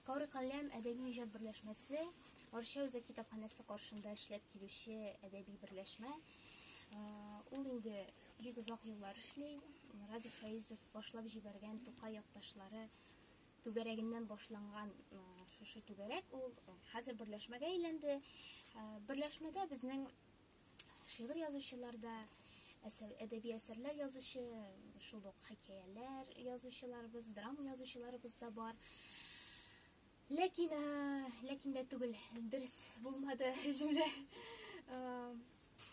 Коры каләм әдәби-иҗат берләшмәсе Арча үзәк китапханәсе каршында эшләп килүче әдәби берләшмә. Ул инде бик озак еллар эшли. Радик Фәизов башлап җибәргән Тукай якташлары түгәрәгеннән башланган шушы түгәрәк ул хәзер берләшмәгә әйләнде. Берләшмәдә безнең шигырь язучылар да, әдәби әсәрләр язучы, шул ук хикәяләр язучыларыбыз, драма язучыларыбыз да бар. Ләкин, ләкин дә түгел, дөрес булмады җөмлә.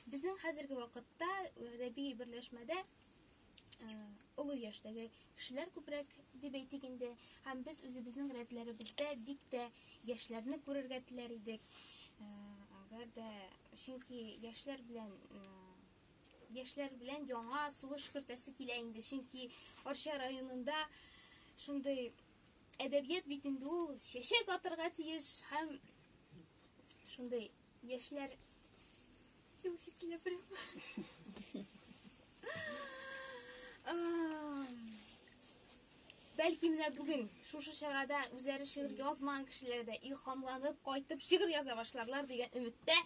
Безнең хәзерге вакытта әдәби берләшмәдә олы яшьтәге кешеләр күбрәк дип әйтик инде һәм без үзебезнең рәтләребездә бик тә яшьләрне күрергә теләр идек әгәр дә чөнки яшьләр белән яшьләр белән яңа сулыш кертәсе килә инде чөнки арча районында шундый әдәбият бит инде ул чәчәк атырга тиеш һәм шундый Яшьләр юксы килә прямо. Бәлки менә бүген шушы чарада үзләре шигырь язмаган кешеләр дә илһамланып кайтып шигырь яза башларлар дигән өметтә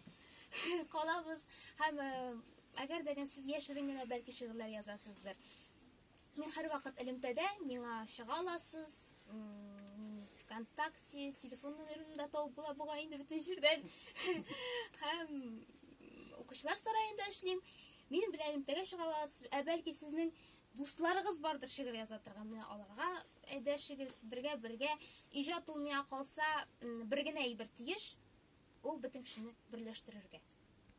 калабыз һәм әгәр дә сез яшерен генә бәлки шигырьләр язасыздыр. Мин һәрвакыт элемтәдә, миңа чыга аласыз, мин ВКонтакте, телефон номерымны да табып була бугай инде бөтен җирдән. Һәм укучылар сараенда эшлим. Минем белән элемтәгә чыга аласыз, ә бәлки сезнең дусларыгыз бардыр шигырь яза торган, менә аларга әйдәшегез, бергә бергә иҗат ул миңа калса бер генә әйбер тиеш, ул бөтен кешене берләштерергә.